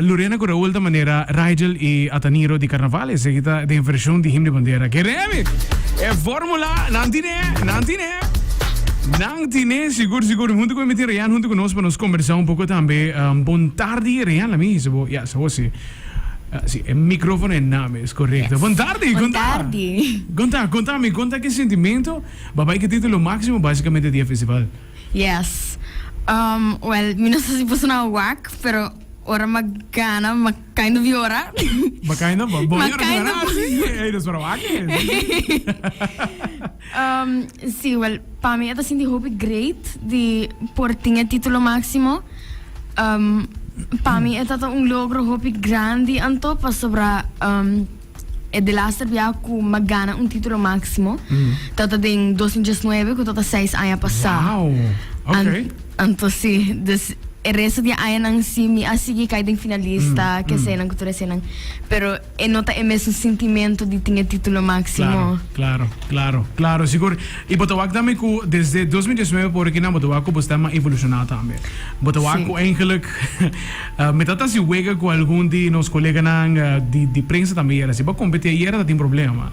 Lurena ku Raul ta manera Rigel i Ataniro di karnaval, eseki ta den vershon di Him di Bandera. Ke remi! E fórmula nan tine, nan tine, nan tine sigur sigur. Huntu ku mi tin Reyan huntu ku nos pa nos kombersá un poko tambe. Bon tardi Reyan, la mi hisi bo. Ya, sa bo si. Si, e mikrófono e nan mes, korekto. Bon tardi, konta. Bon tardi. Konta, konta mi, konta ki sintimentu ba bai ketitu lo máksimo básikamente di e festival? Yes. Um, well, mi no sa si por sona wak, pero ora m'a gana, m'a kind of yora. M'a kind of bo M'a yora kind of- ah, sí, ey, dus para wak es. Um, sí, well, pa mi e ta sinti hopi great di por tin e título máximo. Um, pa mi e ta ta un logro hopi grandi anto, pasobra um, E de laster bia ku m'a gana un titulo máksimo ta ta den dos mil diesnuebe ku ta ta seis aña pasá. Wow! An- Okay. Anto sí, dus e resto di e añanan sí mi a sigui kai den finalista, kesenan ku tur esenan, pero e no ta e mesun sintimentu di tin e titulo máksimo. Claro, claro, claro, claro, sigur. I bo ta wak tambe ku desde dos mil diesnuebe por aki nan bo ta wak ku bosta a evolushona tambe. Bo ta wak Sí. ku eigenlijk Mi ta ta si wega cu algun di nos coleganan di prensa tambe yera asi. Bo a competi ayera ta tin problema.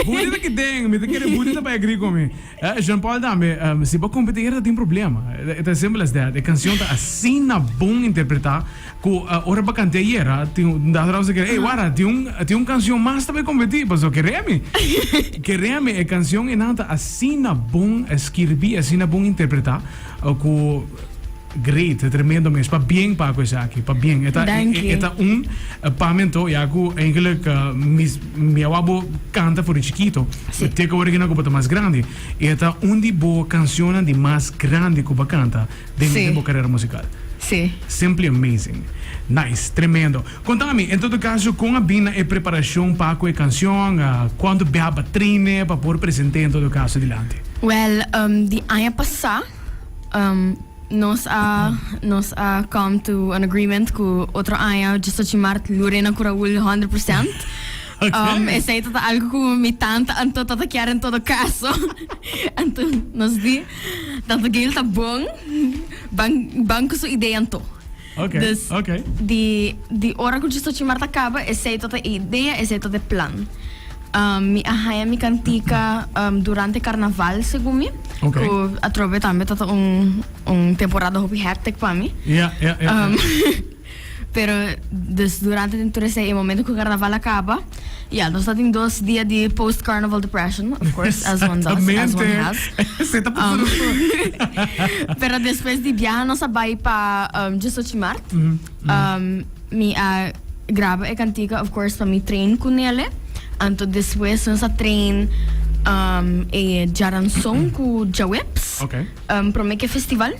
Budi ta kiten, mi ta kere Budi ta bay agree cu mi. Jean Paul tambe, si bo a competi ayera ta tin problema. E ta as simple as that. E cancion ta asina bon interpreta cu ora bo a cant'e ayera, tin un dag tras otro kere, ey wara, tin un cancion mas ta bay competi, pasobra kere mi. Kere mi, e cancion enan ta asina bon skirbi, asina bon interpreta cu. Great, e tremendo mes. Pabien Paco esaki, pabien. E ta e e ta un pamen to ya cu eigenlijk mi mi a wou bo canta for di chikito. Si. Te cu oregina cu bo ta mas grandi. Y e ta un di bo cancionnan di mas grandi cu bo canta den Si. den bo carera musical. Si. Simply amazing. Nice, tremendo. Contami, en todo caso, con a bin na e preparacion pa cu e cancion? Cuantu bia aba traine pa por presente en todo caso dilanti? Well, di aña pasa. Nos a nos a come to an agreement cu otro aña Justochimart lo rena cu Raul hundred percent. Um, esey ta ta algo cu mi tanta Anto ta ta kier en todo caso. Anto nos di, tanta Gail ta bon, ban, ban cu su idea Anto. Okay, dus okay. di di ora ku Djisocimar ta kaba esei tabata e idea, esei tabata e plan. Um, mi a haña mi kantika um, durante karnaval, segun mi, Okay. ku atrobe tambe tabata un, un temporada hopi hectic pa mi. Ja, ja, ja. Um, pero, dus durante den tur esei, e momento ku karnaval a kaba, Ya, nos ta tin dos dia di post carnaval depression, of course, as one does, as one has. Exactamente. Esei ta pasa nos tur. Pero despues di biaha nos a bai pa um, Jusochimaart. Um, mi a graba e cantica, of course, pa mi train cu Nele. Anto despues nos a train um, e Jaranson cu Jaweps. Ok. Um, prome ke festival.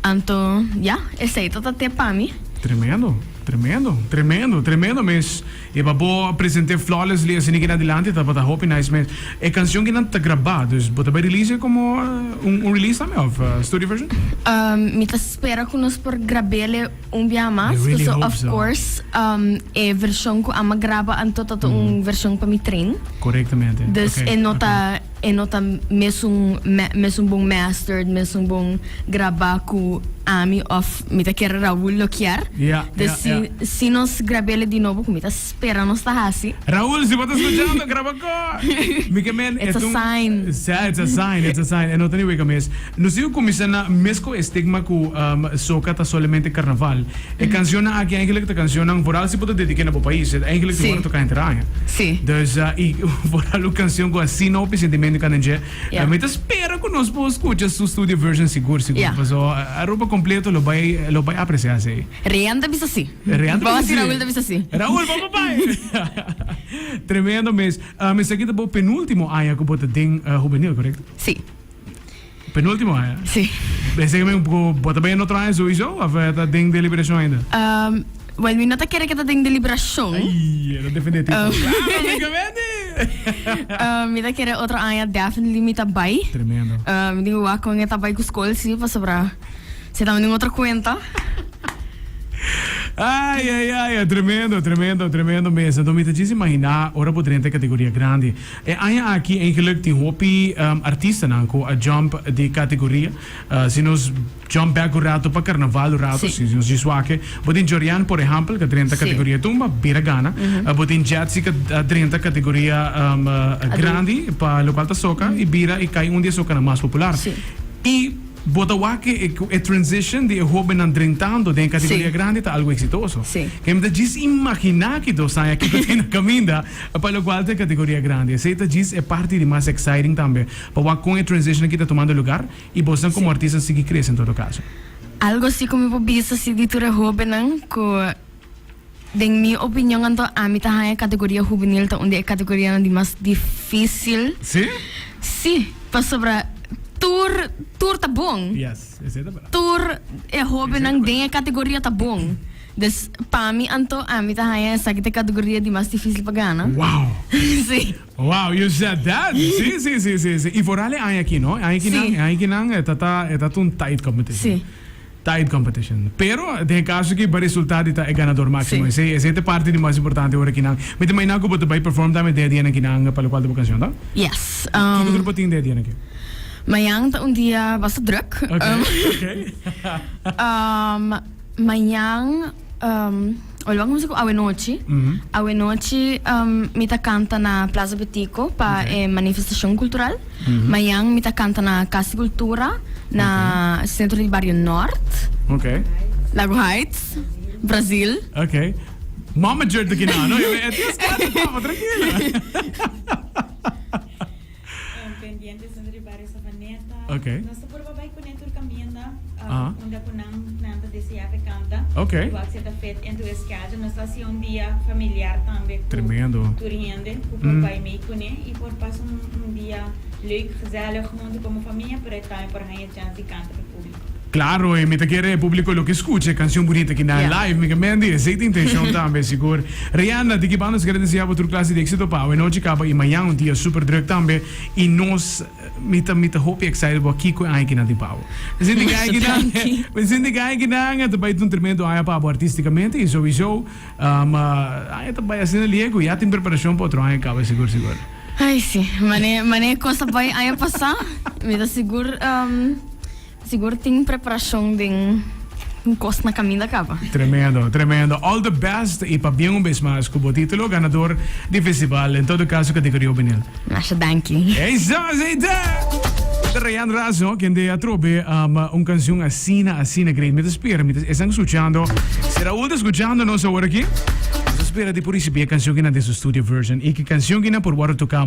Anto, ya, esei to ta te pa mi. Tremendo, tremendo, tremendo, tremendo mes. E pa bo presente flawlessly asina ke na dilanti tabata hopi nice mes e cancion ke nan ta graba dus bo ta bai release e como un un release tambe of studio version? Umm mi ta spera cu nos por grabele un biaha mas pasobra of course umm e version cu Ama graba anto ta ta un version pa mi tren. Corectamente. Dus e no ta. E no ta mesun mesun bon mastered, mesun bon grabá ku ami òf mi ta kere Raúl lo kier. Ya, ya, ya. Desi si nos grab'é di nobo ku mi ta spera nos ta hasi. Raúl, si bo ta skuchando, graba kò! Mi ke men It's a sign. Sa, it's a sign, it's a sign. E no ta ni weka mes. Nos sigue cuminsa na mes cu e stigma cu soca ta solamente carnaval. E cancionnan aki eigenlijk ta cancionnan, vooral si bo ta dedique na bo pais, e ta eigenlijk di worde toca henter aña. Sí. Dus, y vooral un cancion cu asina hopi sentimento cana dje. Ja. Mi ta spera cu nos por scucha su studio version sigur, sigur. Ja. Paso Aruba completo lo bay, lo bay aprecia esey. Rean ta bisa sí. Rean ta bisa sí. Bo a haci Raul ta bisa sí. Raul, bo pa bay! Tremendo mes. Esaki ta bo penultimo aña cu bo ta den Juvenil, correcto? Sí. Penultimo aña? Sí. Bese que mi bo ta bay otro aña sowieso of ta den deliberacion ainda? Um, well, mi no ta kere que ta den deliberacion. Ay, era definitivo. Um. Claro, mi comenti. um, mi ta kere otro aña definitely mi ta bay. Tremendo. Um, mi wak con e ta bay cu school, sí, pa sobra. Se ta un otro cuenta. Ai, ai, ai, é tremendo, tremendo, tremendo mesmo. Então, me te diz imaginar, ora por dentro categoria grande. E aña aki en geluk tin hopi artistanan cu a jump di categoria. Si nos jump bek un rato pa carnaval un rato, si nos djis wake. Bo tin Jorian por ehempel ca drenta categoria tumba, bira gana. Bo tin Jetsi ca a drenta categoria grandi pa locual ta soca y bira y cay un di e socanan mas popular. Y bo ta wake cu e transition di e hobennan drentando den e categoria grandi ta algo exitoso. Kemi ta djis imagina aki dos aña kico tin na caminda. Pa locual ta e categoria grandi. Esey ta djis e parti di mas exciting tambe. Pa wak con e transition aki ta tomando lugar y bosnan como artisnan sigui crece en todo caso. Algo si cu mi por bisa si di tur e hobennan cu den mi opinion anto ami ta haya categoria hubenil ta un di e categorianan di mas dificil. Si? Si, pasobra tur tur ta bon. Yes, esey ta verdad. Tur e hobennan den e categoria ta bon. Des pa mi anto ami ta haña esaki ta e categoria di mas dificil pa gana. Wow! Sí. Wow, you said that! Sí, sí, sí, sí, sí. Y foral e aña aki, no? E aña akinan, Sí. e aña akinan e ta ta e ta ta un tight competition. Sí. Tight competition. Pero den e caso aki bo resulta di ta e ganador máximo. Sí. Esey, esey ta e parti di mas importante ora akinan. Mi ta imagina cu bo ta bay perform tambe den e dianan akinan pa locual ta bo cancion, ta? Yes. Um, Kiko tur bo tin den e dianan aki? mañan ta un dia basta druk. Oké, Um, oké. um, Mañan, ora bo a cuminsa cu awe nochi, awe nochi mi ta canta na Plaza Betico pa e manifestacion cultural. Mañan mi ta canta na Casa di Cultura na centro di Barrio Noord, Lago Heights, Brazil. Ok, mama jurd aki na, no? Yo mi e tin scanta, papa, trankila. Pendientes riba Barrio Savaneta. Okay. Nos ta purba bai cune tur camienda uh, ah. ah. unda cu nan, nan ta desea pe canta. Okay. Y wak zeta fit en tu schedule. Nos ta hacia un dia familiar tambe. Tremendo. Tur hende cu por mm. bai mee cune y por pas un, un dia leuk, gezellig junto como familia, pero tambe por haya chance canta pe publico. Claro e mi ta kere e publico lo ke skucha e kanshon bunita ki nan live mi ke mendi esei ta intenshon tambe sigur Rianda di ki banda nos kere deseabo tur klase di exito pa awe nochi kaba i mañan un dia super druk tambe i nos mi ta mi ta hopi excited bo kiko e aña ki nan tin pa awe mi sinti ke aña ki nan mi sinti ke aña ki nan ta bai tur tremendo aña pa abo artisticamente i souiso. Ma aña ta bai asina liego. Ya tin preparashon pa otro aña kaba sigur sigur. Ay si, mane mane e kos ta bai aña pasá, mi ta sigur sigur tin preparashon den kos na kaminda kaba. Tremendo, tremendo. All the best i pa bien un bes mas ku bo titulo ganador di festival, en todo kaso kategoria hubenil. Masha danki. Ey sa, ey ta! E ta Rayan Razo kende a trobe un canción asina, asina great. Mi ta spera mi ta esnan scuchando. Si Raul ta scuchando nos aworaki, nos a spera di por ricibi e cancionkinan den su studio version. Y ki cancionkinan por worde toca.